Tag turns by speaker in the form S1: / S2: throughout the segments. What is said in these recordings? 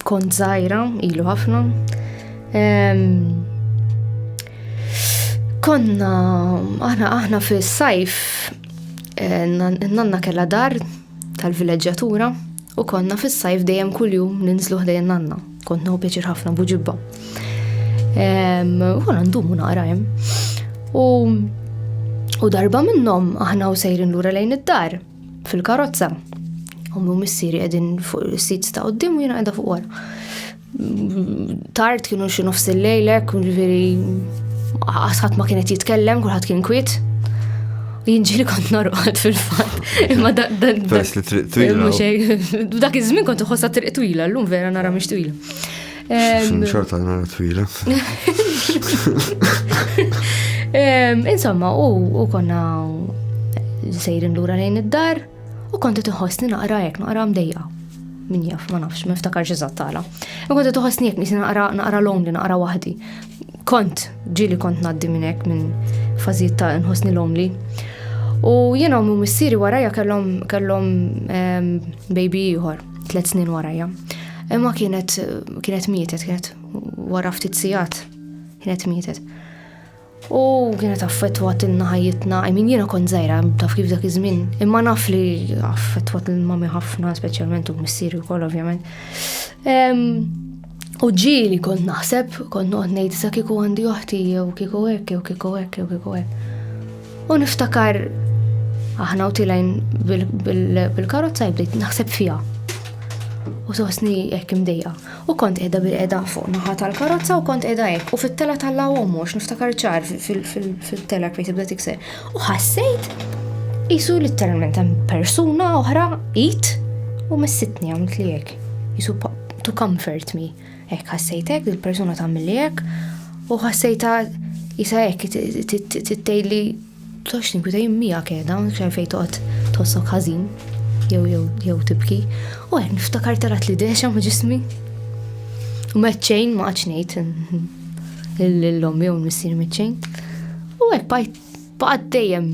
S1: Kont żgħira, ilu ħafna. Konna, aħna aħna fis-sajf, eh, nanna kella dar tal-vileġġatura u konna fis-sajf dejjem kuljum ninżlu ħdejn nanna. Kont nħu pjaċir ħafna buġibba. U ndumu naqra hemm. U darba minnhom aħna u sejrin lura lejn id-dar. fil-karozza. Ummi u missieri qegħdin fuq is-sits ta' qudiem u jiena qiegħda fuq wara. Tard kienu xi nofs il-lejlek, ġifieri ħadd ma kienet jitkellem, kulħadd kien kwiet. Jinġili kont norqod fil-fatt. Imma da da da. Dak iż-żmien kont iħossha triq twila, llum vera nara mhix twila. Xorta l-mara twila. Insomma, u konna sejrin lura lejn id-dar u konti tħossni naqra jek naqra mdejja. Min jaf, ma nafx, ma niftakar ġizat tala. U konti tħossni jek nisi naqra naqra lonely, naqra wahdi. Kont, ġili kont naddi minnek minn fazijiet ta' nħossni lonely. U jena u missiri warajja kellom kellom baby jħor. tliet snin warajja. Imma kienet kienet mietet, kienet wara ftit sigħat, kienet mietet. U kienet affettwat inna ħajjitna, I mean jiena kont żgħira taf kif dak iż-żmien, imma naf li affettwat il-mami ħafna, speċjalment u missieri wkoll ovvjament. U ġili kont naħseb, kont noqgħod ngħid sa kieku għandi oħti jew kieku hekk jew kieku hekk jew kieku hekk. U niftakar aħna u tilajn bil-karozza jibdejt naħseb fija. U sosni hekk imdejja. U kont qiegħda bil-qiegħda fuq naħa tal-karozza u kont qiegħda hekk u fit-tela tal-law mhux niftakar ċar fil-tela kif tibda tikser. U ħassejt jisu literalment hemm persuna oħra it u messitni għamilt li hekk. Jisu to comfort me. Hekk ħassejt hekk, il-persuna tagħmilli hekk, u ħassejta jisa hekk tgħidli tox tinkwita jien miegħek qiegħda, xejn fejn toqgħod tossok ħażin jew jew jew tibki. U hekk niftakar tarat li dexa ma' ġismi. U meċċejn ma għadx ngħid l-lom jew missier meċċejn. U hekk baqgħet dejjem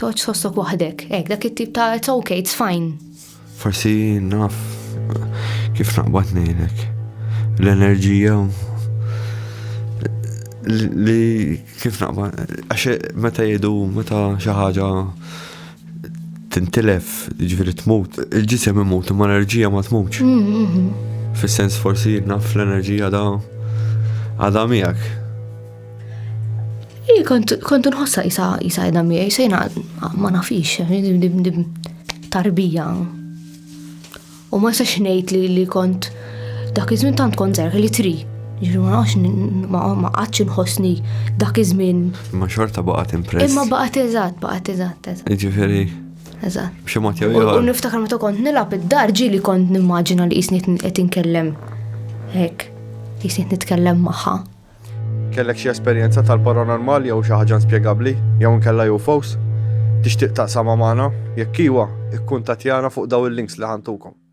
S1: Toċ sostok waħdek, ek, dak it-tip ta' it's okay, it's fine. Forsi naf kif naqbad nejlek. L-enerġija li kif naqbad, għax meta jidu, meta xaħġa tintilef, ġifiri tmut, il-ġisem imut, ma l-enerġija ma tmutx. Mm, mm, mm. Fis-sens forsi naf l-enerġija da għada miegħek. Ej, kontu nħossa jisa jisa edha miegħi, sejna ma nafix, tarbija. U ma jistax ngħid li li kont dak iż-żmien tant kont zerħ li tri. Ġiru ma nafx ma qatx nħossni dak iż-żmien. Ma xorta baqgħet impress. Imma baqgħet eżatt, baqgħet eżatt, eżatt. Jiġifieri. Eżatt. B'xi mod jew U niftakar meta kont nilgħab id-dar ġieli kont nimmaġina li jisni qed inkellem hekk. Jisni nitkellem magħha. Kellek xi esperjenza tal-paranormal jew xi ħaġa inspjegabbli jew inkella UFOs? Tixtieq taqsamha magħna? Jekk iwa, ikkuntattjana fuq dawn il-links li ħa ntukom.